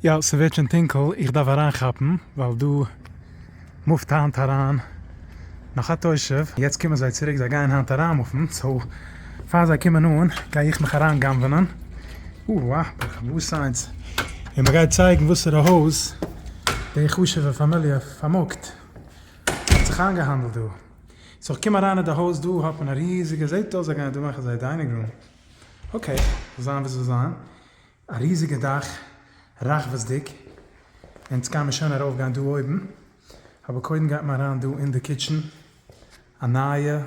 יא, ס'ווערט שוין טונקל, איך דארף אריינכאפן, ווייל דא מופט היינט אריין נאך א תושב, יעצט קומען זיי צוריק, זיי גייען היינט אריינמופן, סאו פאר זיי קומען אן גיי איך מיך אריינ'גנב'ענען, אוה א, ברוך הבא סיינס, און מ'גייט צייגן וואסערע הויז די חשוב'ע פאמיליע פארמאגט, ס'האט זיך איינגעהאנדלט דא, סאו איך קום אריין אין די הויז, דא האט מען א ריזיגע, זעט אויס זיי גייען דא מאכן זייער דיינינג רום, אקעי, זאל זיין ווי ס'זאל זיין. א ריזיגע דאך, רחבות'דיג, און ענדס קעמער שוין ארויף גיין דא אויבן, אבער קודם גייט מען אריין דא אין די קיטשן, א נייע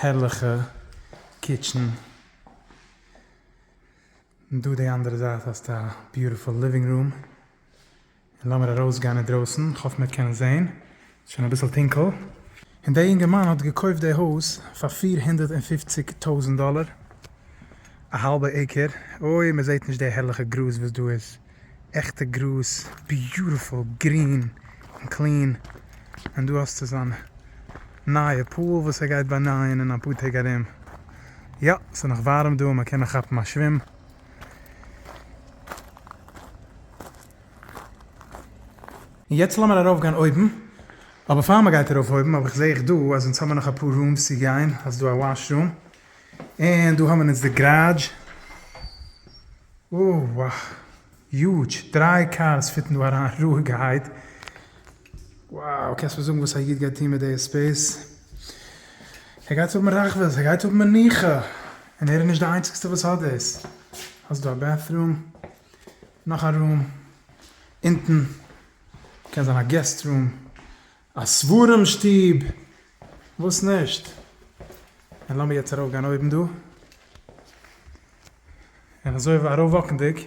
הערליכע קיטשן, און דא די אנדערע זייט האסטו א ביוטיפול ליווינג רום. און לאמיר ארויס גיין אינדרויסן, כ'האף מיר קענען זעהן, שוין אביסל טונקל. און דער יונגערמאן האט געקויפט די הויז פאר פֿיר הונדערט און פֿופֿציק טויזענט דאלער, א האלבע עיקער, אוי מען זעהט נישט די הערליכע גראז וואס דא איז, עכטע גראז, ביוטיפול גרין און קלין, און דא האסטו זיין נייע פול וואס ער גייט באנייען אין אפאר טעג ארום, יא ס'איז נאך ווארעם דא און מען קען נאך כאפן א שווים. און יעצט לאמיר ארויפגיין אויבן, אבער פאר מען גייט ארויף אויבן האב איך זעה איך דא אז אונז האבן נאך אפאר רומס צו גיין, אז דא א וואש רום, און דא האבן אונז די גראדזש, אוה וואו, יוטש, דריי קארס פיטן דא אריין רואיגערהייט. Wow קענסט מיר זאגן וואס א איד גייט טון מיט די הספד? ער גייט האבן רחבות, ער גייט האבן מנוחה, און ער איז נישט די איינציגסטע וואס האט דאס, האסט דא א בעטרום, נאך א רום, אונטן קען זיין א געסט רום, א ספרים שטוב, וואס נישט? און לאמיר יעצט ארויף גיין אויבן דא, און אזוי ארויף וואקנדיג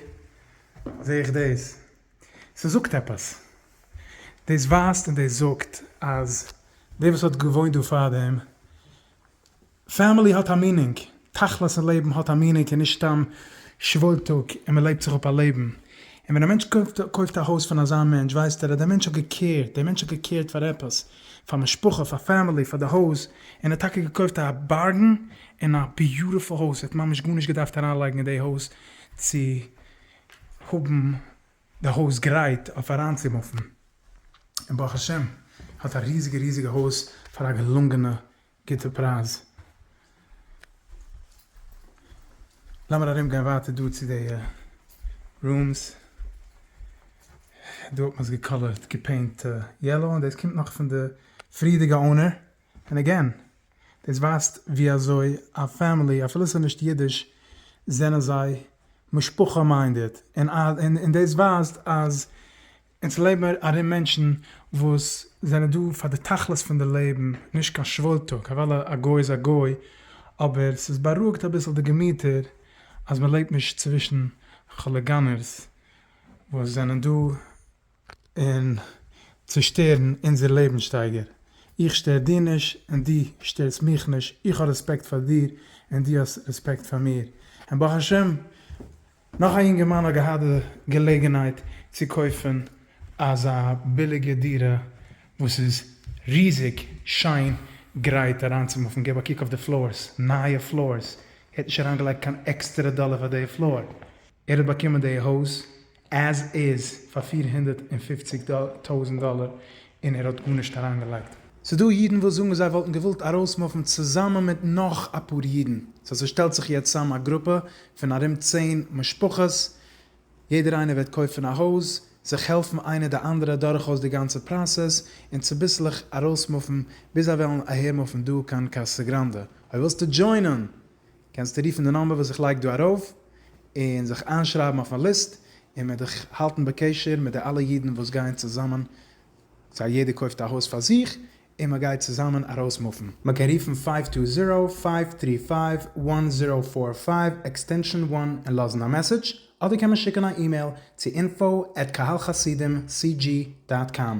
זעה איך דאס. ס'זאגט עפעס. דאס ווייזט און דאס זאגט אז דער וואס האט געוואוינט דא פארדעם, פעמילי האט א מינינג, תכלית אין לעבן האט א מינינג און נישט סתם שוואויל טאג און מ'לעבט זיך אפ א לעבן. און ווען א מענטש קויפט א הויז פון אזא מענטש ווייסט ער אז דער מענטש האט געקעירט, דער מענטש האט געקעירט פאר עפעס, פאר משפחה, פאר פעמילי, פאר די הויז, און ער האט טאקע געקויפט א בארגען און א ביוטיפול הויז, ער האט ממש גארנישט געדארפט אריינלייגן אין די הויז צו האבן די הויז גרייט אויף אריינצומופן, און ברוך השם האט א ריזיגע ריזיגע הויז פאר א געלונגענע גוטע פרייז. לאמיר ארום גיין ווייטער דא צו די רומס, דא האט מען עס געקאלערט געפעינט יעלאו, און דאס קומט נאך פון די פריערדיגע אונער. און אגעין, דאס ווייזט ווי אזוי א פעמילי, אפילו ס'איז נישט אידיש, זענען זיי משפחה מיינדעד, און דאס ווייזט אז אונז לעבן ארום מענטשן וואס זענען דא פאר די תכלית פון די לעבן, נישט קיין שוואוילטאג, אוודאי א גוי איז א גוי, אבער ס'איז בארואיגט אביסל די געמיטער אז מ'לעבט נישט צווישן כוליגאנערס וואס זענען דא. און צושטערן אונזער לעבנסשטייגער. איך שטער דיר נישט און דו שטערסט מיך נישט, איך האב רעספעקט פאר דיר און דו האסט רעספעקט פאר מיר, און ברוך השם נאך א יונגערמאן האט געהאט די געלעגנהייט צו קויפן אזא ביליגע דירה וואס איז ריזיג שיין גרייט אריינצומופן, געב א קוק אויף די פלארס, נייע פלארס, ער האט נישט אריינגעלייגט קיין עקסטערע דאלער פאר די פלאר, ער האט באקומען די הויז עז איז פאר פֿיר הונדערט און פֿופֿציק טויזענט דאלער און ער האט גארנישט אריינגעלייגט. ס'דא אידן וואס זאגן זיי וואלטן געוואלט ארויסמופן צוזאמען מיט נאך אפאר אידן, סא ס'שטעלט זיך יעצט צאם א גרופע פון ארום צען משפחות, יעדער איינער וועט קויפן א הויז, זיך העלפן איינער די אנדערע דורכאויס די גאנצע פראסעס, און צוביסלעך ארויסמופן ביז זיי וועלן אהערמופן דא קיין קאסא גראנדע, אויב ווילסטו דזשוינען קענסטו רופן די נאמבער וואס איך לייג דא ארויף, און זיך איינשרייבן אויף מיין ליסט, און מיר דיך האלטן בקשר מיט די אלע אידן וואס גייען צוזאמען, סא יעדער קויפט א הויז פאר זיך, און מען גייט צוזאמען ארויסמופן. מען קען רופן פייוו טו זירא, פייוו טרי פייוו, וואן זירא פאר פייוו, עקסטענשאן וואן, און לאזן א מעסעדזש, אדער קען מען שיקן א אימעיל צו אינפאו עט קהל חסידים סי דזשי דאט קאם.